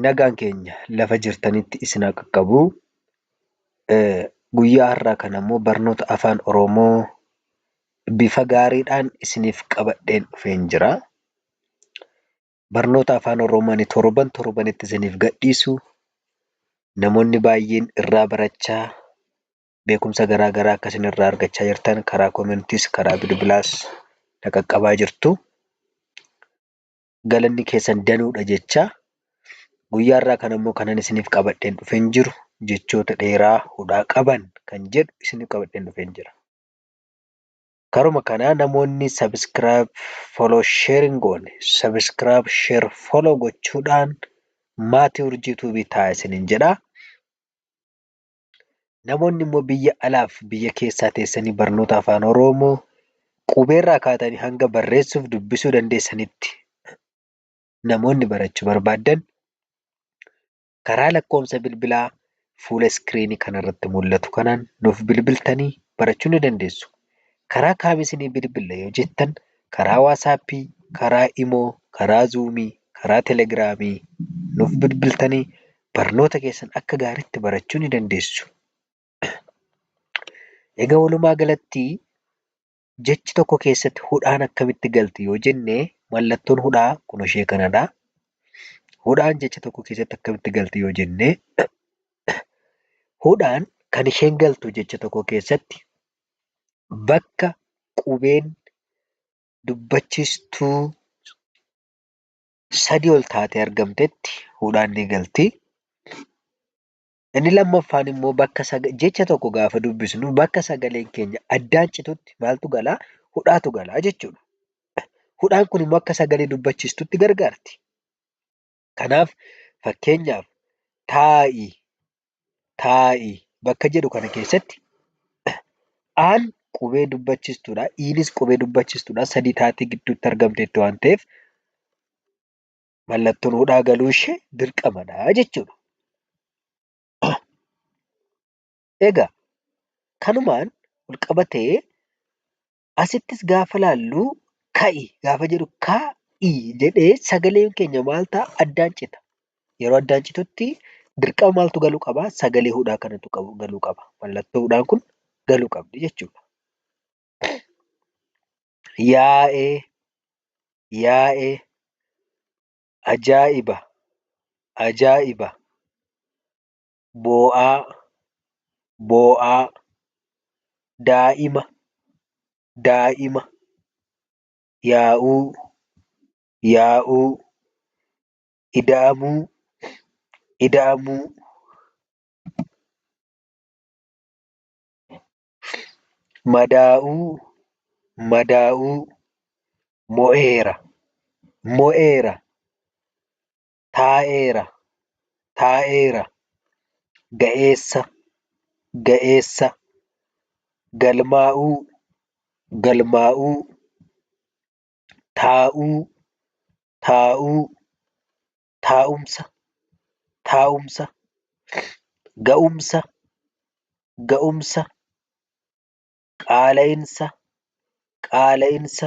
Nagaan keenya lafa jirtanitti isin haa qaqqabu. Guyyaa har'aa kana immoo barnoota afaan Oromoo bifa gaariidhaan isiniif qabadheen dhufeen jira. Barnoota afaan Oromoo ani torban torbanitti isiniif gadhiisu namoonni baay'een irraa barachaa beekumsa garaa garaa akka isin irraa argachaa jirtan karaa koomentiis karaa bilbilaas na qaqqabaa jirtu. galanni keessan danuudha jechaa guyyaa irraa kan ammoo kanan isiniif qabadheen dhufeen jiru jechoota dheeraa hudhaa qaban kan jedhu isiniif qabadheen dhufeen jira. Karuma kanaa namoonni subscribe follow share hin goone subscribe share follow gochuudhaan maatii urjii tuubii ta'a isiniin jedha. Namoonni immoo biyya alaa fi biyya keessaa teessanii barnoota Afaan Oromoo qubeerraa kaatanii hanga barreessuu fi dubbisuu dandeessanitti namoonni barachuu barbaaddan karaa lakkoofsa bilbilaa fuula iskiriinii kanarratti mul'atu kanaan nuuf bilbiltanii barachuu ni dandeessu. Karaa kaam isinii bilbilla yoo jettan karaa waasaappii, karaa imoo, karaa zuumii, karaa telegiraamii nuuf bilbiltanii Barnoota keessan akka gaaritti barachuu ni dandeessu. Egaa walumaa galatti jechi tokko keessatti hudhaan akkamitti galti yoo jenne mallattoon hudhaa kun ishee kanadha. Hudhaan jecha tokko keessatti akkamitti galti yoo jenne hudhaan kan isheen galtu jecha tokko keessatti bakka qubeen dubbachiistuu sadii ol taatee argamtetti hudhaan ni galti. Inni lammaffaan immoo bakka jecha tokko gaafa dubbisnu bakka sagaleen keenya addaan citutti maaltu galaa? Hudhaatu galaa jechuudha. Hudhaan kun immoo akka sagalee dubbachiistutti gargaarti. Kanaaf fakkeenyaaf taa'i taa'i bakka jedhu kana keessatti aan qubee dubbachistuudha. Iinis qubee dubbachistuudha. Sadii taatee gidduutti argamteetti waan ta'eef mallattoon hudhaa galuu ishee dirqamadha jechuudha. Egaa kanumaan walqabatee Asittis gaafa ilaallu ka'i gaafa jedhu kaa'i jedhee sagaleen keenya maal ta'a? Addaan cita. Yeroo addaan citutti dirqama maaltu galuu qaba? Sagalee hudhaa kanatu galuu qaba. Mallattoo hudhaan kun galuu qabdi jechuudha. Yaa'ee, yaa'ee, ajaa'iba, ajaa'iba, boo'aa boo'aa daa'ima daa'ima yaa'uu yaa'uu ida'amuu ida'amuu madaa'uu madaa'uu mo'eera mo'eera taa'eera taa'eera ga'eessa ga'eessa galmaa'uu galmaa'uu taa'uu taa'uu taa'umsa taa'umsa ga'umsa ga'umsa qaala'insa qaala'insa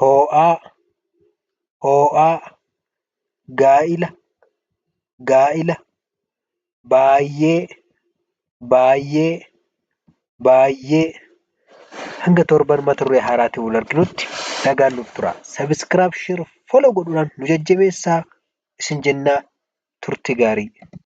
hoo'aa, hoo'aa, gaa'ila, gaa'ila, baay'ee, baay'ee, baay'ee. Hanga torban mata duree haaraatiin wal arginutti nagaan nuuf turaa. Subscribe, share, follow godhuudhaan nu jajjabeessaa isin jennaa turtii gaarii.